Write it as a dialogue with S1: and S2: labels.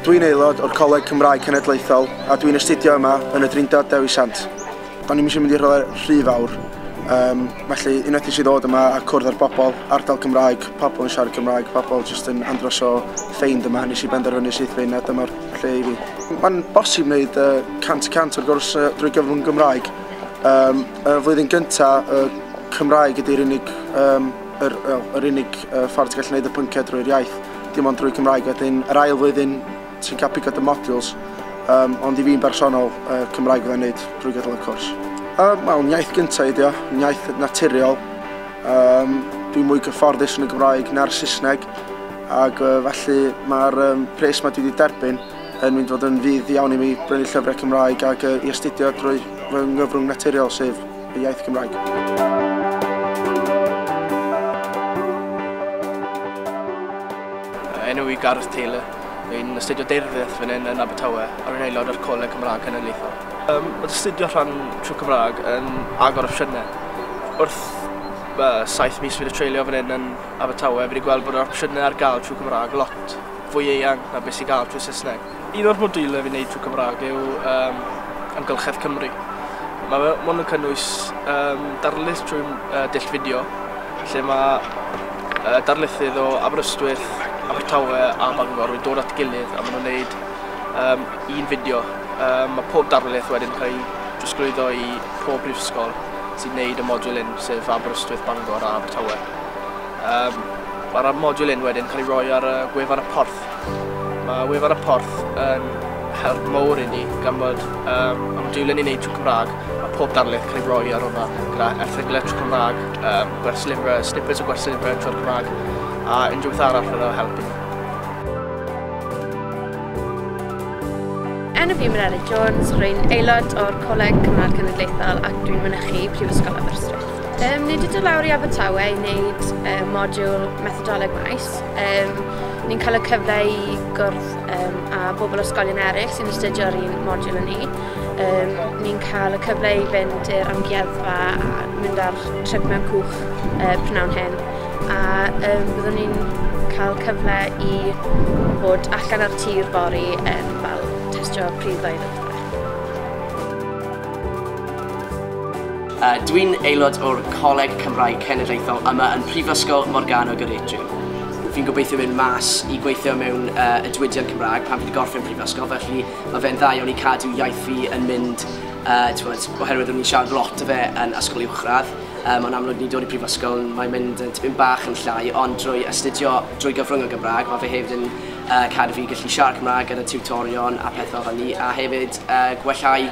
S1: Dwi'n aelod o'r Coleg Cymraeg Cenedlaethol a dwi'n astudio yma yn y Drindod Dewi Sant. O'n i'n eisiau mynd i'r rhywle rhy fawr, um, felly unwaith eisiau ddod yma a cwrdd â'r bobl, ardal Cymraeg, pobl yn siarad Cymraeg, pobl jyst yn andros o ffeind yma, nes i benderfynu syth fynd a dyma'r lle i fi. Mae'n bosib wneud uh, 100% o'r gwrs uh, drwy gyfrwng Gymraeg. Um, y flwyddyn gyntaf, y Cymraeg ydy'r unig um, Yr, wel, yr unig uh, ffordd ti'n gallu gwneud y pynciau drwy'r iaith, dim ond drwy Cymraeg. Wedyn, yr ail flwyddyn, ti'n cael pigod y modules, um, ond i fi'n bersonol, uh, Cymraeg fydda'n gwneud drwy gydol y cwrs. Um, wel, iaith gyntaf ydi o, iaith naturiol. Um, dwi'n mwy gyfforddus yn y Gymraeg na'r Saesneg, ac uh, felly mae'r um, pres mae dwi wedi derbyn yn mynd fod yn fydd iawn i mi brynu llyfrau Cymraeg ac uh, i astudio drwy fy nghyfrwng naturiol sef y iaith Gymraeg.
S2: Enw i Gareth Taylor. Rwy'n astudio deirfyrth fan hyn yn Abertawe a rwy'n aelod o'r Coleg Cymraeg Cenedlaethol. Um, mae astudio rhan trwy Cymraeg yn agor opsiynau. Wrth uh, saith mis fi wedi treulio fan hyn yn Abertawe, fi wedi gweld bod yr opsiynau ar gael trwy Cymraeg lot fwy eang na beth sy'n gael trwy Saesneg. Un o'r modiwlau fi'n neud trwy Cymraeg yw um, amgylchedd Cymru. Mae fe mond yn cynnwys um, darlith trwy uh, dull fideo, lle mae uh, darlithydd o Aberystwyth, Abertawe a Bangor yn dod at gilydd a maen nhw'n neud um, un fideo. Um, mae pob darlith wedyn cael ei drosglwyddo i pob brifysgol sy'n neud y modiwl un, sef Aberystwyth, Bangor a Abertawe. Um, Mae'r modiwl un wedyn cael ei roi ar y gwefan y porth Mae wefan y porth yn help mowr i ni gan bod um, amodiwlen ni'n neud trwy Cymraeg a pob darlith cael ei roi ar hwnna gyda erthyglau trwy Cymraeg, um, gwersyllifrau, snippets o gwersyllifrau trwy'r Cymraeg a unrhyw beth arall fydd o'n helpu ni.
S3: Enw fi Meleri Jones, rwy'n aelod o'r Coleg Cymraeg Cenedlaethol ac dwi'n mynychu Prifysgol Aberystwyth. Um, nid ydw lawr i Abertawe i wneud um, modiwl methodoleg maes, Cymdeithas. Um, ni'n cael y cyfle i gwrdd um, a bobl ysgolion eraill sy'n astudio ar un modiwl yn ni. Um, ni'n cael y cyfle i fynd i'r amgueddfa a mynd ar trip mewn cwch uh, prynawn hyn. A um, byddwn ni'n cael cyfle i bod allan ar tir fori um, fel testio pryddoedd a
S4: Dwi'n aelod o'r Coleg Cymraeg Cenedlaethol yma yn Prifysgol Morgannwg yr Atrium. Fi'n gobeithio mynd mas i gweithio mewn uh, y diwydiant Cymraeg pan fi wedi gorffen prifysgol, felly mae fe'n dda iawn i cadw iaith fi yn mynd, uh, bod, oherwydd o'n i'n siarad lot o fe yn ysgol uwchradd, um, ond amlwg ni'n dod i prifysgol, mae'n mynd yn tipyn bach yn llai, ond drwy astudio drwy gyfrwng o Gymraeg, mae fe hefyd yn uh, cadw fi gallu siarad Cymraeg gyda tutorion a pethau fel ni, a hefyd uh, gwellhau